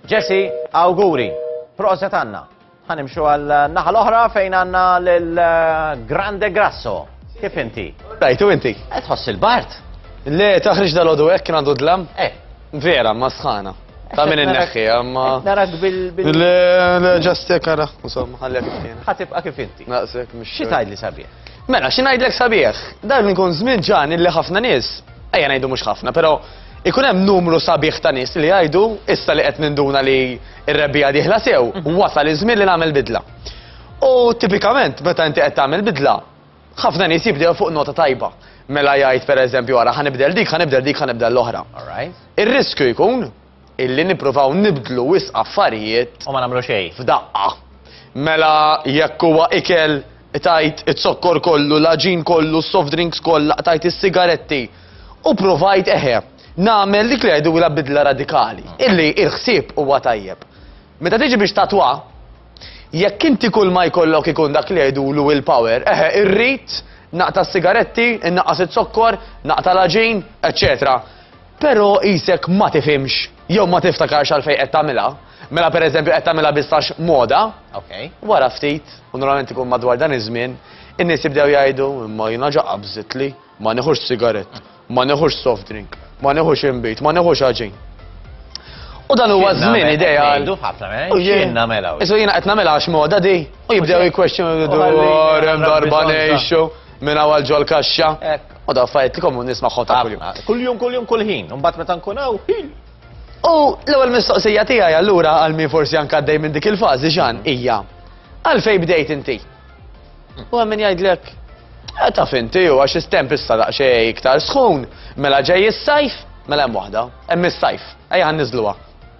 Jessie, awguri. Proset Anna. Ħa nimxu għal naħa l-oħra fejn għandna lil Grande Grasso. Kif inti? Rajtu inti? Qed tħoss il-bart? Le, taħriġ dal-għodu hekk kien għandu dlam? Eh. Vera, ma sħana. Ta' minn il-neħħi, għamma. Narak bil-bil. Le, ġast kara, insomma, għallek kien. Ħatibqa kif inti. Naqsek, mux. Xi tajd li sabieħ? Mela, xi najdlek sabieħ? Dan nkun żmien ġan illi ħafna nies Ejja ngħidu mhux ħafna, però ikun hemm numru sabiħ ta' nies li jgħidu issa li qed ninduna li r-rebbija dieħla sew, mhm. wasal iż-żmien li nagħmel bidla. U tipikament meta inti qed tagħmel bidla, ħafna nies jibdew fuq nota tajba. Mela jgħid pereżempju wara ħanibdel dik, ħanibdel dik, ħanibdel l-oħra. Ir-riskju jkun illi nippruvaw nibdlu wisq affarijiet u ma nagħmlu xejn f'daqqa. Mela jekk huwa ikel qtajt iz-zokkor kollu, l-għaġin kollu, s-soft drinks kollha, qtajt is-sigaretti u pruvajt eħe nagħmel dik li jgħidulha bidla radikali, illi il-ħsieb huwa tajjeb. Meta tiġi biex tatwa, jekk inti kulma jkollok ikun dak li jgħidulu will power, eħe irrid naqta' s-sigaretti, innaqqas iz-zokkor, naqta' l-għaġin, eċċetera. Però qisek ma tifhimx jew ma tiftakarx għalfejn qed tagħmilha. Mela pereżempju qed tagħmilha biss għax moda. Okej. Wara ftit, u normalment ikun madwar dan iż-żmien, in-nies jibdew jgħidu, imma jiena ġa qabżitli, ma nieħux sigarett, ma nieħux soft drink, ma nieħux inbid, ma nieħux ħaġin. U dan huwa żmien ideal. Ngħidu f'ħafna mela, eh? x'jien nagħmilha. Isu jiena qed nagħmilha għax moda di. U jibdew jikkwestjonu dwar hemm darba ngħixu minn hawn ġol kaxxa. U daw affarijiet li komun nisma' ħota kuljum. Kuljum, kuljum, kulħin. Mbagħad meta nkun hawn, ħin. U l-ewwel mistoqsija tiegħi allura għal min forsi anke għaddej minn dik il-fażi ġan hija għalfejn bdejt inti? U hemm min jgħidlek eh, taf inti u għax istemp issa daqsxejn iktar sħun, mela ġej is-sajf, mela hemm waħda, hemm is-sajf, ejja ħanniżluha.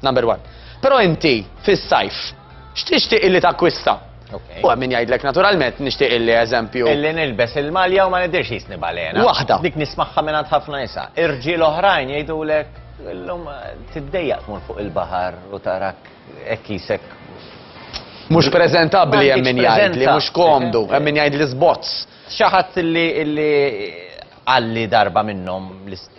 Number one. Però inti fis-sajf x'tixtieq illi takkwista? U hemm min jgħidlek naturalment nixtieq illi eżempju. Illi nilbes il-malja u ma nidirx jisni balena. Waħda. Dik nismagħha minn għand ħafna nisa. Irġiel oħrajn jgħidulek illum tiddejjaq tmur fuq il-baħar u tarak hekk jisek Mhux preżentabbli hemm min jgħid li mhux komdu, hemm min jgħid li sbozz. Xi ħadd li għalli darba minnhom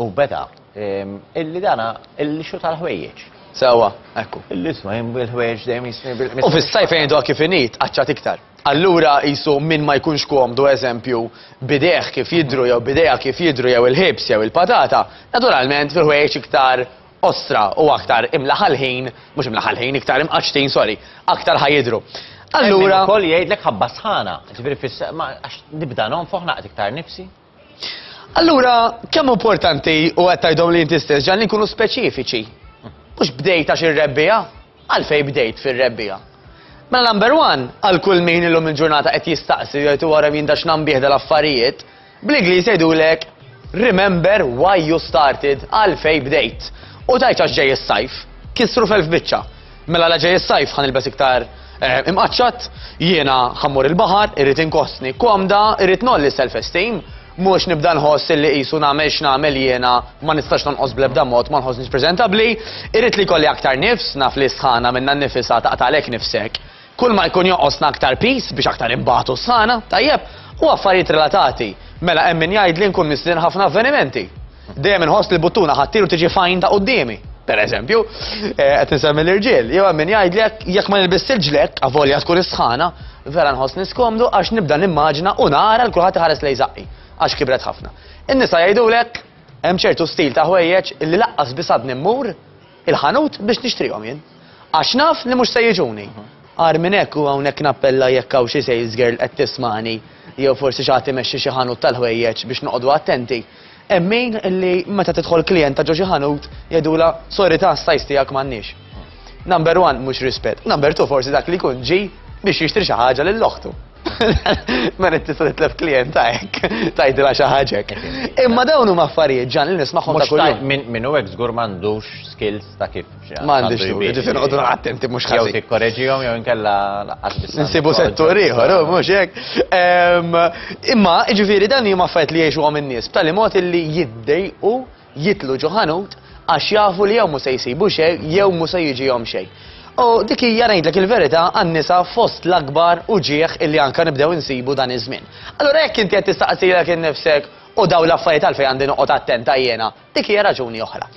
u beda. Illi dana il-lixu tal-ħwejjeġ. Sewa, ekku. L-isma jimbu l-ħwejġ dejjem jisni bil U fis-sajf fejn doha kif init, qaċċat iktar. Allura qisu min ma jkunx komdu eżempju bidejh kif jidhru jew bidejha kif jidhru jew il-ħibs jew il-patata, naturalment fil-ħwejjeġ iktar qosra u aktar imlaħa l-ħin, mhux imlaħa l-ħin, iktar imqaċċtin, sorry, aktar ħa jidhru. Allura. Ukoll jgħidlek ħabba sħana, ġifieri fis għax nibda nonfoħ naqgħod iktar nifsi. Allura, kemm importanti u qed tgħidhom li inti stess ġan li nkunu speċifiċi. Mhux bdejt għax ir-rebbija, għalfej bdejt fir-rebbija. Mela number one, għal kull min illum il-ġurnata qed jistaqsi jgħid u wara min dax nambih dal-affarijiet, bl-Ingliż jgħidulek remember why you started, għalfej bdejt. U tajċ għax ġej is-sajf, kisru f'elf biċċa. Mela la ġej is-sajf ħa nilbes iktar eh, imqaċċat, jiena ħammur il-baħar, irrid inkostni komda, irrid nolli self-esteem, mhux nibda nħoss illi qisu nagħmel x'nagħmel jiena ma nistax tonqos bl-ebda mod ma nħossniex preżentabbli, irrid li kolli aktar nifs, naf li sħana minna nnifisha taqtalek nifsek. Kull ma jkun jonqosna aktar piż biex aktar inbatu s-sħana, tajjeb, u affarijiet relatati. Mela hemm min jgħid li nkun mistrieħ ħafna avvenimenti. Dejjem inħoss li buttuna ħa ttir u tiġi fajn ta' quddiemi per eżempju, eh, qed insemmi l-irġiel, jew hemm min jgħidlek jekk ma nilbis il-ġlek, avolja tkun is-sħana, vera nħoss niskomdu għax nibda nimmaġina u nara l kulħadd iħares lej żaqqi għax kibret ħafna. In-nisa jgħidulek hemm ċertu stil ta' ħwejjeġ li laqqas bisadni mmur il-ħanut biex nixtrihom jien. Għax naf li mhux se jiġuni. Agħar minn hekk u hawnhekk nappella jekk hawn xi sales girl qed tismagħni jew forsi xi ħadd imexxi xi ħanut tal-ħwejjeġ biex noqogħdu attenti. Hemm min li meta tidħol klijenta ġo xi ħanut jgħidulha sorry ta' s-size tiegħek m'għandniex. Number one mhux rispett. Number two forsi dak li jkun ġie biex jixtri xi ħaġa lil oħtu. Ma mela, tista' titlef klient ta' hekk, tgħidilha xi ħaġek. Imma dawn huma affarijiet ġan li nismagħhom ta' kuljum. Min hu hekk żgur m'għandux skills ta' kif xi. M'għandix tu, ġifieri qogħdu attenti mhux ħażin. Jew tikkoreġihom jew inkella laqqas biss. Insibu settur ieħor, oh, mhux hekk. Imma ġifieri dan huma affarijiet li jgħixuhom in-nies b'tali mod illi jiddejqu jidħlu ġo ħanut għax jafu li jew mhu se jsibu xejn jew mhu se jiġihom xejn. U dik hija ngħidlek il-verità għan-nisa fost l-akbar uġigħ illi anke nibdew insibu dan iż-żmien. Allura jekk inti qed tistaqsilek innifsek u dawn l-affarijiet għalfejn għandi noqgħod attenta jiena, dik hija raġuni oħra.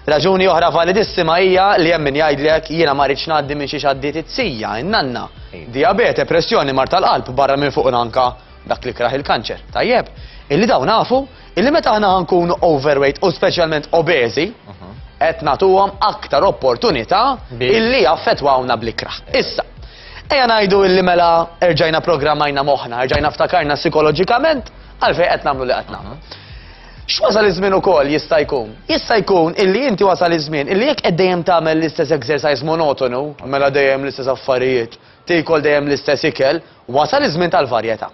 Raġuni oħra validissima hija li hemm min jgħidlek jiena ma rridx ngħaddi minn xi xaddiet it-sija, in-nanna, diabete, pressjoni, mar tal-qalb, barra minn fuq anka dak li kraħ il-kanċer. Tajjeb, illi dawn nafu Illi meta aħna ħankunu overweight u speċjalment obeżi, qed nagħtuhom aktar opportunità illi jaffetwawna bl-ikra. Issa, ejja ngħidu illi mela erġajna programmajna moħħna, erġajna ftakarna psikoloġikament għalfejn qed nagħmlu li qed nagħmlu. X'wasal iż-żmien ukoll jista' jkun? Jista' jkun illi inti wasal iż-żmien illi jekk qed dejjem tagħmel l-istess exercise monotonu, mela dejjem l-istess affarijiet, tiekol dejjem l-istess ikel, wasal iż-żmien tal-varjetà.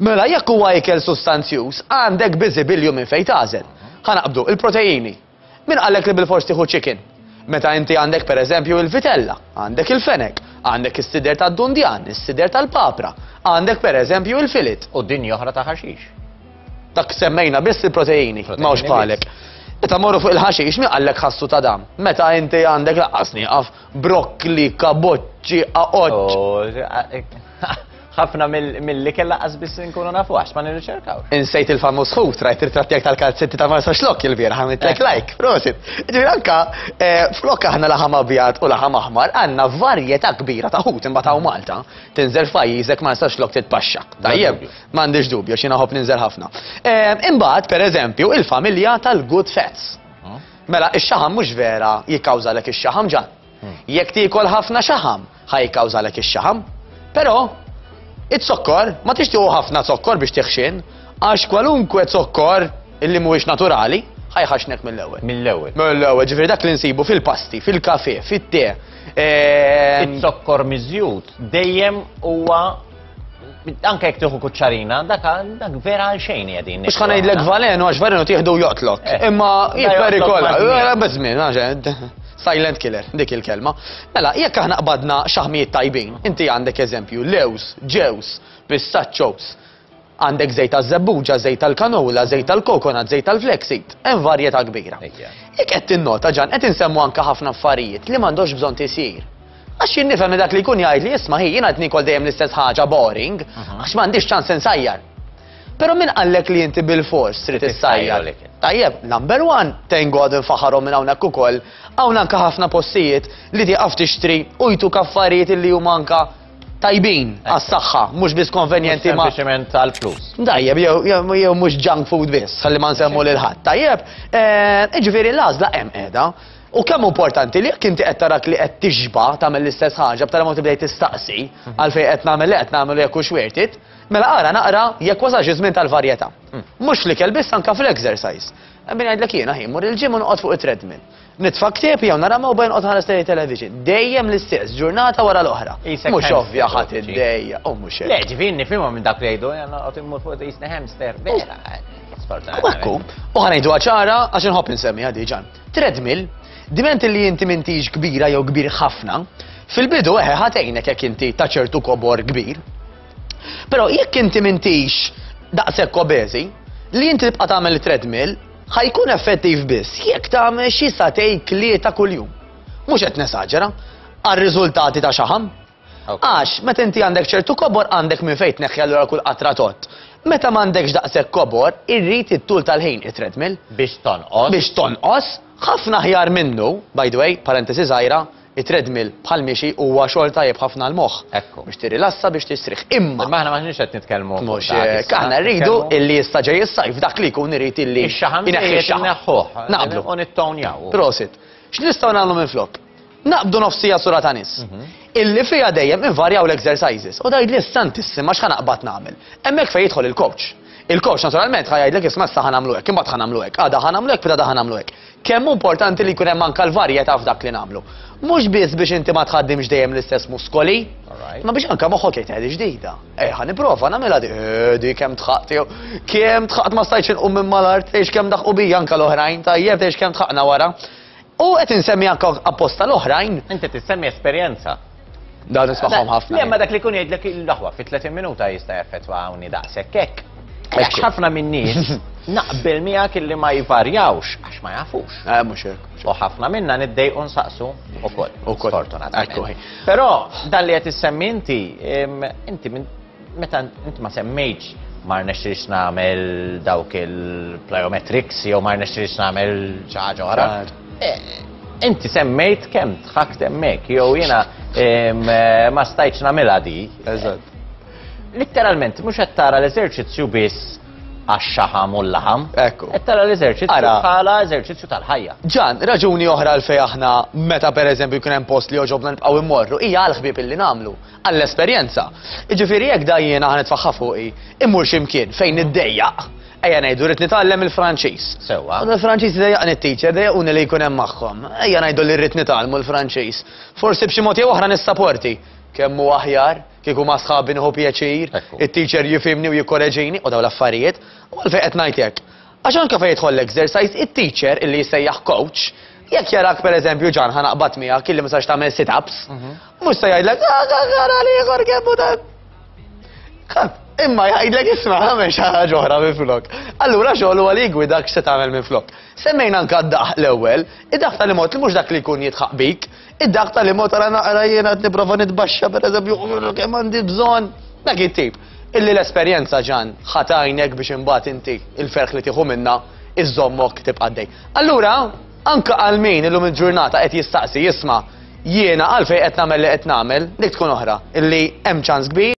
Mela jekk huwa ikel sustanzjuż, għandek biżibilju minn fejn tagħżel. Ħa naqbdu, il-proteini. Min qallek li bilfors tieħu chicken? Meta inti għandek pereżempju il-vitella, għandek il-fenek, għandek is-sider tad-dundjan, is-sider tal-papra, għandek pereżempju il-filet. U dinja oħra ta' ħaxix. Dak semmejna biss il-proteini, ma hux bħalek. Meta morru fuq il-ħaxix, min qallek ħassu ta' dam? Meta inti għandek laqqas nieqaf brokkli, kaboċċi, aqoċċ. ħafna mill-ikel laqqas biss nkunu nafu għax ma nirriċerkaw. Insejt il-famuż ħut, rajt irtrattjak tal-kalzetti ta' Marsa Xlok il-bieraħ għamiltek eh. like, prosit. Ġifieri anka eh, flok aħna laħam abjad u laħam aħmar għandna varjetà kbira ta' ħut imbagħad Malta. Tinżel f'pajjiżek Marsa Xlok titpaxxa. Tajjeb, m'għandix dubju xi naħob ninżel ħafna. Eh, imbagħad pereżempju il-familja tal-good fats. Oh. Mela, ix-xaħam mhux vera jikkawżalek ix-xaħam ġan. Jekk tiekol ħafna xaħam, ħa jikkawżalek ix-xaħam. Però, iz-zokkor, ma tixtiequ ħafna zokkor biex tiħxin, għax kwalunkwe zokkor illi mhuwiex naturali, ħa jħaxnek mill-ewwel. Mill-ewwel. Mill-ewwel, ġifieri dak li nsibu fil-pasti, fil-kafe, fit-te. Ehm, Iz-zokkor miżjud dejjem huwa anke jek tieħu kuċċarina, dak dak vera għal xejn qegħdin. Mhux ħan ngħidlek valenu għax valenu tieħdu joqtlok. Eh. Imma jipperikola, eh, biżmien għax silent killer, dik il-kelma. Mela, jekk aħna qbadna xaħmijiet tajbin, inti għandek eżempju, lews, ġews, pistachos, għandek zejt tal-zebbuġa, zejt tal-kanola, zejt tal-kokonat, zejt tal-flexit, hemm varjetà kbira. Jekk qed tinnota ġan qed insemmu anke ħafna affarijiet li m'għandux bżonn tisir. Għax jien nifhem dak li jkun jgħid li isma' hi jiena qed nikol dejjem l-istess ħaġa boring, għax m'għandix ċans insajjar. Però min qallek li inti bil-fors trid issajjar. Tajjeb, number one, thank God infaħarhom minn hawnhekk ukoll, hawn anke ħafna postijiet li tieqaf tixtri u jtu kaffarijiet li huma anke tajbin għas-saħħa, mhux biss konvenjenti ma. Sempliċement għal flus. Tajjeb, jew mhux junk food biss, ħalli ma nsemmu lil ħadd. Tajjeb, eh, jiġifieri l-għażla hemm qiegħda. U kemm hu importanti li jekk inti qed tarak li qed tixba' tagħmel l-istess ħaġa b'tali mod tibda tistaqsi għalfejn qed nagħmel li qed nagħmel u jekk hux worth it, mela ara naqra jekk wasalx iż-żmien tal-varjetà. Mhux l-ikel biss anke fl-exercise. Hemm min jgħidlek jiena ħin mmur il-gym u noqgħod fuq it-treadmill. Nitfa' ktieb jew nara mewba jonqod ħares lejn it-television. Dejjem l-istess, ġurnata wara l-oħra. Mhux ovvja ħadd iddejja, u mhux hekk. Le, ġifieri nifhimha minn dak li jgħidu, jien noqgħod immur fuq qisni hamster, vera. U hekk hu. U ħa ngħiduha ċara għax inħobb insemmiha diġà. Treadmill, diment li inti mintix kbira jew kbir ħafna, fil-bidu eħe ħatejnek jekk inti ta' ċertu kobor kbir. Però jekk inti mintix daqshekk obeżi, li inti tibqa' tagħmel treadmill ħajkun effettiv biss jekk tagħmel xi satej klieta kuljum. Mhux qed nesaġera, għar-riżultati ta' xaħam. Għax, meta inti għandek ċertu kobor għandek minn fejn tneħħi allura kull qatra tott. Meta m'għandekx daqshekk kobor, irrid it-tul tal-ħin it-treadmill. Biex tonqos. Biex tonqos, ħafna aħjar minnu, by the way, parentesi żgħira, it-treadmill bħall-mixi huwa xogħol tajjeb ħafna għall-moħħ. Ekku. Biex tirrilassa biex tistrieħ. Imma. Imma aħna m'aħniex qed nitkellmu. Mhux hekk, aħna rridu illi issa ġej is-sajf dak li jkun irid illi. Ix-xaħam ineħħi x-xaħam. Naqblu. U nittownjaw. Prosit. X'nistgħu nagħmlu minn flok? Naqbdu nofs siegħa sura ta' nies. Illi fiha dejjem invarjaw l-exercises. U tgħidli santissim għax ħa naqbad nagħmel. Hemmhekk fejn jidħol il-coach. Il-coach naturalment ħa jgħidlek isma' issa ħa nagħmlu hekk, imbagħad ħa nagħmlu hekk, għada ħa nagħmlu hekk, pitada ħa nagħmlu hekk. Kemm hu importanti li jkun hemm anke l-varjetà f'dak li nagħmlu. Mhux biss biex inti ma tħaddimx dejjem l-istess muskoli, ma biex anke moħħok jgħid qegħdi ġdida. Ej ħa nipprova nagħmilha di, eh, di kemm tħaqt jew kemm tħaqt ma stajtx inqum minn mal-art, tgħix kemm daħqu bija anke l-oħrajn tajjeb tgħix kemm tħaqna wara. U qed insemmi anke apposta l-oħrajn. Inti tissemmi esperjenza. Da nismagħhom ħafna. Le, ma dak li kun jgħidlek il-daħwa fi 30 minuta jista' jaffettwa hawnni daqshekk hekk. Għax ħafna min-nies naqbel miegħek illi ma jvarjawx għax ma jafux. Eh, mhux hekk. U ħafna minna niddejqu nsaqsu ukoll. Ukoll. Sfortunatament. Però dan li qed issemmi inti, inti Meta int ma semmejtx ma rnexxilx nagħmel dawk il-plyometrics jew ma rnexxilx nagħmel xi ħaġa oħra. Eh, inti semmejt kemm tħakt hemmhekk jew jiena eh, ma stajtx nagħmilha di. Eżatt. Litteralment mhux qed tara l-eżerċizzju biss għax-xaħam u l-laħam. Ekku. Qed tara l-eżerċizzju bħala eżerċizzju tal-ħajja. Ġan, raġuni oħra l-fej aħna meta pereżempju jkun hemm post li joġobna nibqgħu immorru hija għal ħbieb illi nagħmlu. għall-esperjenza. Jiġifieri jekk dajjiena ħa nitfagħha fuqi, immur xi mkien fejn niddejjaq, ejja ngħidu rrid nitgħallem il-Franċiż. Sewwa. U l-Franċiż idejjaqni t-teacher, dejjaquni li jkun hemm magħhom. Ejja ngħidu li rrid nitgħallmu l-Franċiż. Forsi b'xi mod jew oħra nissaporti. Kemm hu aħjar, kieku ma' sħabi nieħu pjaċir, it-teacher jifhimni u jikkoreġini, u dawn l-affarijiet, u għalfejn qed ngħid hekk. Għax anke fejn jidħol l-exercise, it-teacher, illi jissejjaħ coach, jekk jarak pereżempju Ġan ħa naqbad miegħek illi ma sax tagħmel sit-ups, mhm. mhux se jgħidlek ara li ieħor kemm hu dan. Imma jgħidlek isma' għamel xi ħaġa oħra minn flok. Allura xogħol huwa li jgwidak se tagħmel minn flok. Semmejna anke d-daħ l-ewwel, id-daħ tal-imod li mhux dak li jkun jitħaq bik, Id-daq tal imot għara naqra jiena qed nipprova nitbaxxa pereżempju kemm għandi bżonn dak it-tip. Illi l-esperjenza ġan ħatajnek biex imbagħad inti il-ferħ li tieħu minna iżommok tibqaddej. Allura, anka għal min illum il-ġurnata qed jistaqsi jisma' jiena għalfejn qed nagħmel li qed nagħmel, dik tkun oħra, illi hemm ċans kbir